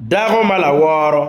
Dako ma laworo,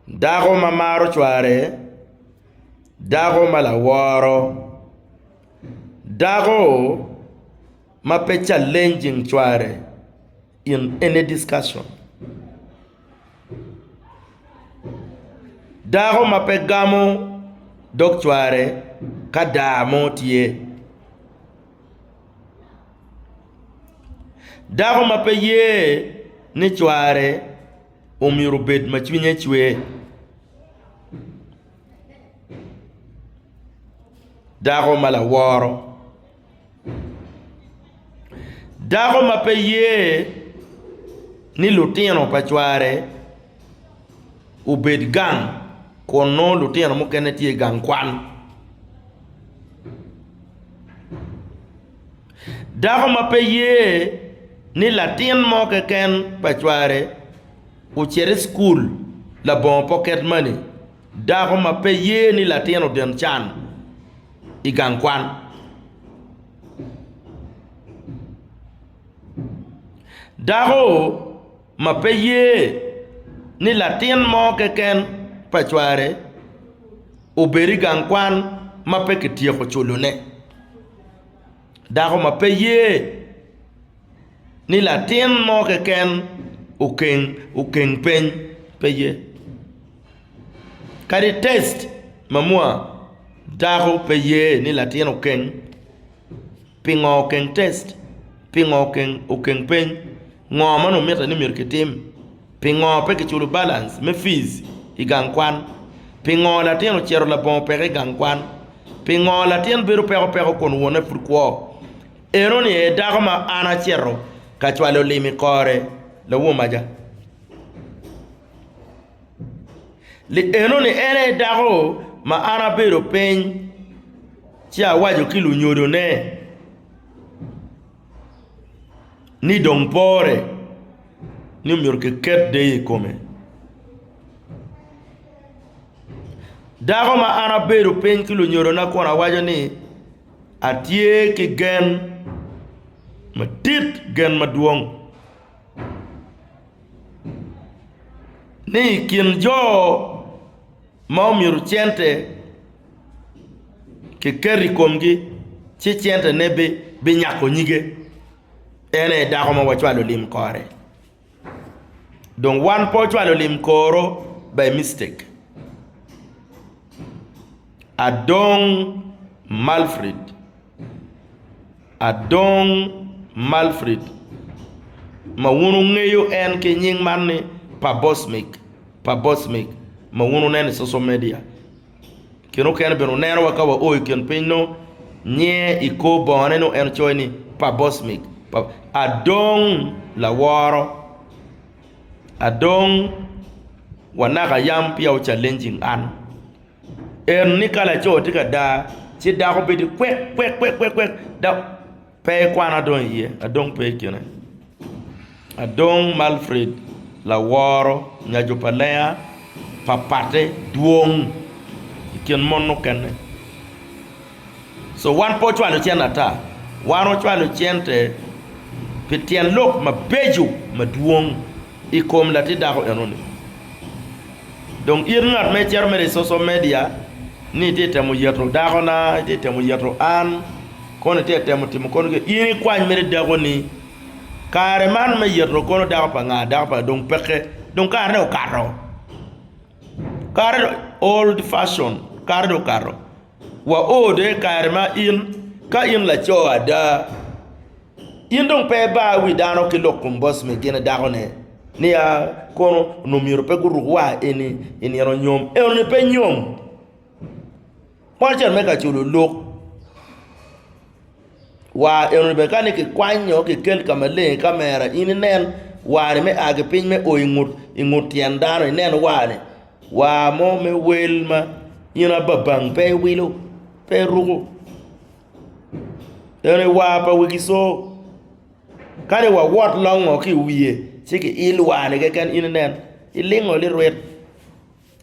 dako ma maro cware, dako ma laworo, dako ma pe challenging cware in any discussion. Dako ma pe gamo dog cware ka daa mo tye. Dako ma pe ye ni cware omyero obed ma cwinye cwe. Dako ma laworo. Dako ma pe ye ni lutino pa cware obed gang kun nongo lutino mukene tye i gang kwan. Dako ma pe ye ni latin mo keken pa cware ocit i cukul labongo pocket money. Dako ma pe ye ni latin oden can. i gang kwan. Dako ma pe ye ni latin mo keken pa cware obed i gang kwan ma pe kityeko culone. Dako ma pe ye ni latin mo keken okeng peny pe ye. Kadi test ma mua dako pe ye ni latin okeng pingo okeng test pingo okeng okeng peny ngo ma nongo mitte ni myero kitim pingo pe kiculo balance me fees I gang kwan pingo latin ocito labongo peke I gang kwan pingo latin bedo peko peko kun wonne pud kwo eno ni aye dako ma an acito ka cwalo lim I kore lawomaja. Lienoni en aye dako ma an abedo piny ci awaco ki lunyodone ni dong pore ni omyero kiket deyo i kome. Dako ma an abedo piny ki lunyodona kun awaco ni atye ki gen madit, gen madwong. ni i kin jo ma omyero cente kiket i komgi ci centene binyako nyige, en aye dako ma wacwalo lim kore. Dong wan pe ocwalo lim koro by mistake. Adong Malfrid. Adong Malfrid, ma wun wungeyo en ki nying man ni Pabosmik, Pabosmik, ma wun wuneno i social media. Kine mukene bene wuneno wa ka wao i kin piny nongo nyinge i kor bongone nongo en coyo ni Pabosmik, Adong laworo, Adong wanaka yam peya wu challenging an. En ni ka laco tye ka daa ci dako bedo kwekkwekkwek dok pe ekwano adong iye adong pe ikine adong ma Alfred laworo nyaco pa lenga pa patte dwong ikin mon mukene. So wan pe wacwalo cente ata, wan wacwalo cente pi tyen lok mabeco madwong i kom latin dako enoni. Dong in ngat ma icito mere i social media ni itye ka temo yeto dakona, itye ka temo yeto an, kono itye ka temo timo kono kene, in ikwany mere dako ni, Kare man me yeto kono dako pa nga? Dako pa nga? Dong peke, dong kare ne okato. Kare dong old fashion, kare dong okato. Waode kare ma in, ka in laco ada, in dong pe ibar wi dano ki lok kom boss me gin dakone nia kono onongo myero pe guruk wa eni i nino nyom. Enoni pe nyom. Kwan can me ka culo lok wa enoni bene kani ki kwanyo ki kel ka maleng i camera in inen wa ni me a ki piny me o i ngut tyen dano inen wa ni. War mo me wel ma in ababang pe iwilo, pe iruko. Eno i war pa Wegiso. Kani wawot longo ki i wiye ci kiil war-ni keken in inen, ilingo lirwit.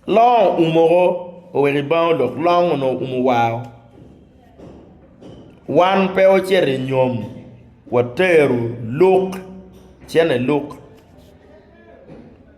Long oumo ko, oweko i bang olok, long onongo oumo war-ru. Wan pe wacito i nyom, watero luk, cene luk.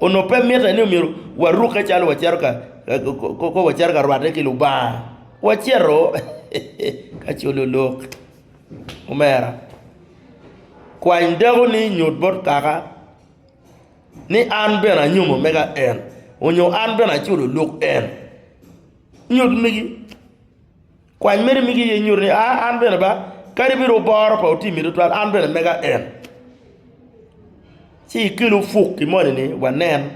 onongo pe mitte ni myero warukke calo wacito ka kong wacito ka rwatte ki Lubanga, wacito ka colo lok. Omera, kwany dakoni nyut bot kaka ni an bene anyomo mega en nyo an bene aculo lok en. Nyut migi. Kwany meno migi iye nyuto ni, aa, an bene ba, kadi bed oboro pa otimmi tutwal, an bene mega en. Ci ikel ofuk i moni-ni wanen.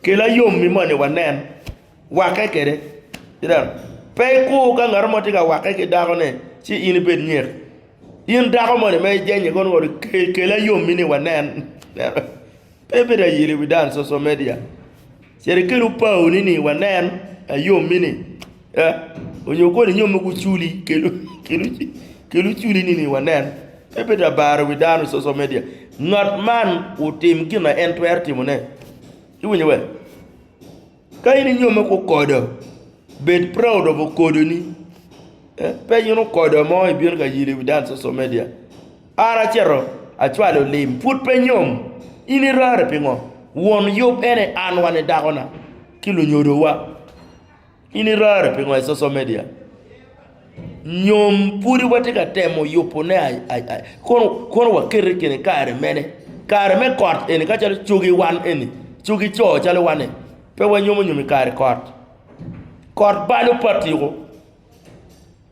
Kel ayom i moni wanen. Wakke kwede. Ineno? Pe ikur ka ngat mo tye ka wakke ki dakone ci in ibed nyek. In dako moni ma ijenye kono woko-ni, kel ayom-mi ni wanen. Ineno? Pe ibedo ayil i wi dan, social media. Cit ikelu pau ni ni wanen ayommi ni eh onyo koni nyo mogo culi kelu culi ni ni wanen pe bed labara wi dano social media ngat man otim gina en twero timo ne iwinyo we ka in inyome ku okodo bed proud of okodo ni eh pe in okodo mo ibino ka yilo iwi dano social media. An acito acwalo lim, pud pe nyom. In irare pingo? Won yub ene an wani dakona ki lunyodowa. In irare pingo i social media? Nyom pudi watye ka temo yubo ne kono wakete i kine kare mene? Kare me kot eni ka calo cogi wan eni, cogi co calo wan ni pe wanyomo nyom i kare kot. Kot balo patiko.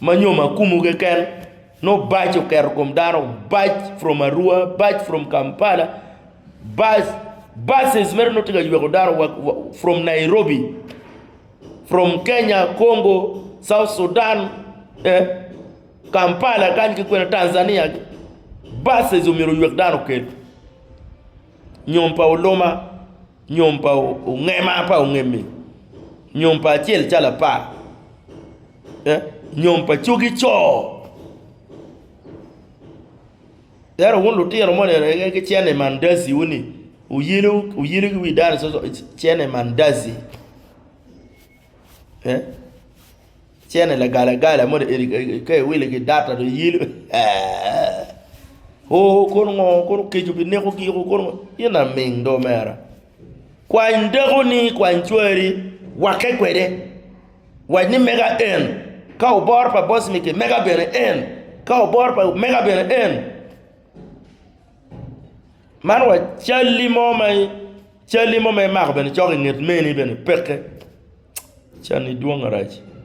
Ma nyo ma kumu keken no bac oketo kom dano bac from arua bac from Kampala bac buses mere no tye ka yweko dano wa from Nairobi from Kenya Congo South Sudan Kampala kany ki kwene Tanzania buses omyero oywek dano okel nyom pa oloma nyom pa ongema pa ongem-mi nyom pa acel calo apar. nyom pa cogi co. Ento wun lutino moni en ki cene mandazi wu ni wuyelo ki wi dano coco cene mandazi cene lagala gala moni eni ka iwilo i ki data dong iyelo ooh kono ngo kono keco bi neko giko kono in aming do omera. Kwany dakoni, kwany cwari, wakke kwede. Wac ni, Mega en, ka obor pa bocmike, mega bene en, ka obor pa, mega bene en. Man wa calli mo ma, calli mo ma imako bene icoko inget meni bene, peke. Canni dwong arac.